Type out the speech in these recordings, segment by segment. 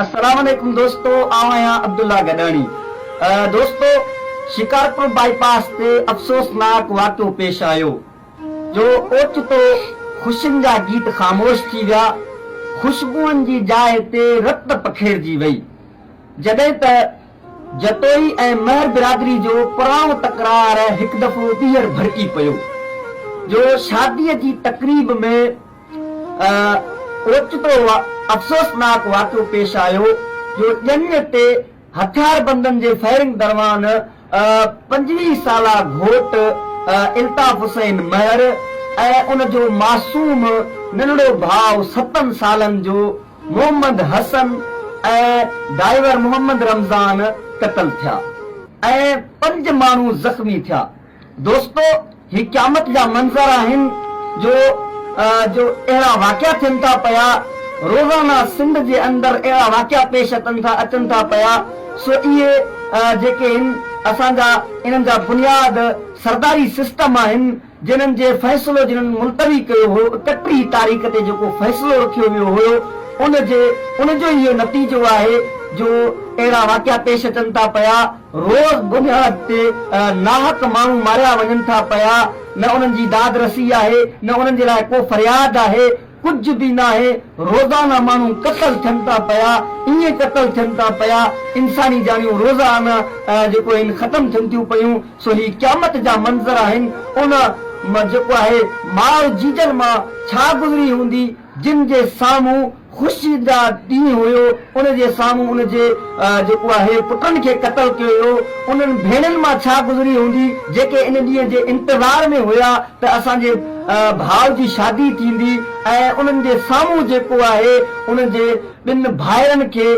السلام عليڪم دوستو آئون آهيان عبدالله گڏاڻي دوستو شڪارپور بائي پاس تي افسوسناڪ واقعو پيش آيو جو اوچتو خوشين جا گيت خاموش ٿي ويا خوشبوئن جي جاء تي رت پکيڙجي وئي جڏهن ته جتوئي ۽ مهر برادري جو پراڻو تڪرار هڪ دفعو ٻيهر ڀڙڪي پيو جو شادي جي تقريب ۾ اوچتو افسوسناڪ واقعو پيش آيو جو ڄڃ تي هٿياربندن جي فائرنگ دروان پنجويهه سالا گهوٽ الطاف حسين مهر ۽ ان جو معصوم ننڍڙو ڀاء ستن سالن جو محمد حسن ۽ ڊائيور محمد رمضان قتل ٿيا ۽ پنج ماڻهو زخمي ٿيا. دوستو هي قيامت جا منظر آهن جو جو اهڙا واقعا ٿين ٿا پيا روزانه سنڌ جي اندر اهڙا واقعا پيش اتن ٿا اچن ٿا پيا سو اهي جيڪي هن اسان جا انهن جا بنياد سرداري سسٽم آهن جنهن جي فيصلو جنهن ملتوي ڪيو هو اڪٽيهين تاريخ تي جيڪو فيصلو رکيو ويو هيو ان جي ان جو ئي اهو نتيجو آهي جو اهڙا واقعا پيش اچن ٿا پيا. روز بنياد تي ناحق ماڻهو ماريا وڃن ٿا پيا، نه انهن جي داد رسي آهي، نه انهن جي لاء ڪو فرياد آهي، ڪجهه به ناهي، روزانه ماڻهو قتل ٿين ٿا پيا، ائين قتل ٿين ٿا پيا، انساني جانيون روزانه جيڪو آهن ختم ٿين ٿيون پيون، سو هي قيامت جا منظر آهن، ان م جيڪو آهي ماء جيجن مان ڇا گذري هوندي، جن جي سامهون خوشي جا ڏينهن هيو، ان جي سامهون ان جي جيڪو آهي پٽن کي قتل ڪيو ويو، انهن ڀيڻين مان ڇا گذري هوندي، جيڪي ان ڏينهن جي انتظار ۾ هيا ته اسان جي ڀاء جي شادي ٿيندي ۽ انهن جي سامهون جيڪو آهي ان جي ٻن ڀائرن کي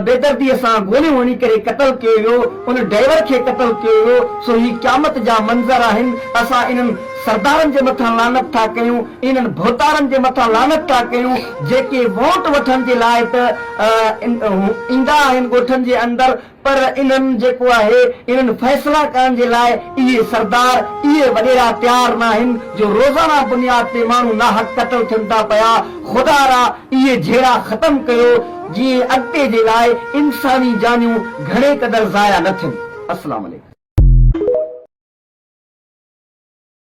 بيدردي سان گوليون هڻي ڪري قتل ڪيو ويو ان ڊئيور کي قتل ڪيو ويو سو هي قيامت جا منظر آهن اسان انهن سردارن جي مٿان لعنت ٿا ڪيون انهن ڀوتارن جي مٿان لعنت ٿا ڪيون جيڪي ووٽ وٺڻ جي لاء ته ايندا آهن ڳوٺن جي اندر پر انهن جيڪو آهي انهن فيصلا ڪرڻ جي لاء اهي سردار اهي وڏيرا تيار ناهن جو روزانه بنياد تي ماڻهو ناحق قتل ٿين ٿا پيا خدا را اهي جهيڙا ختم ڪيو جيئن اڳتي جي لاء انساني جانيون گهڻي قدر ضايع نه ٿين. السلام عليڪم.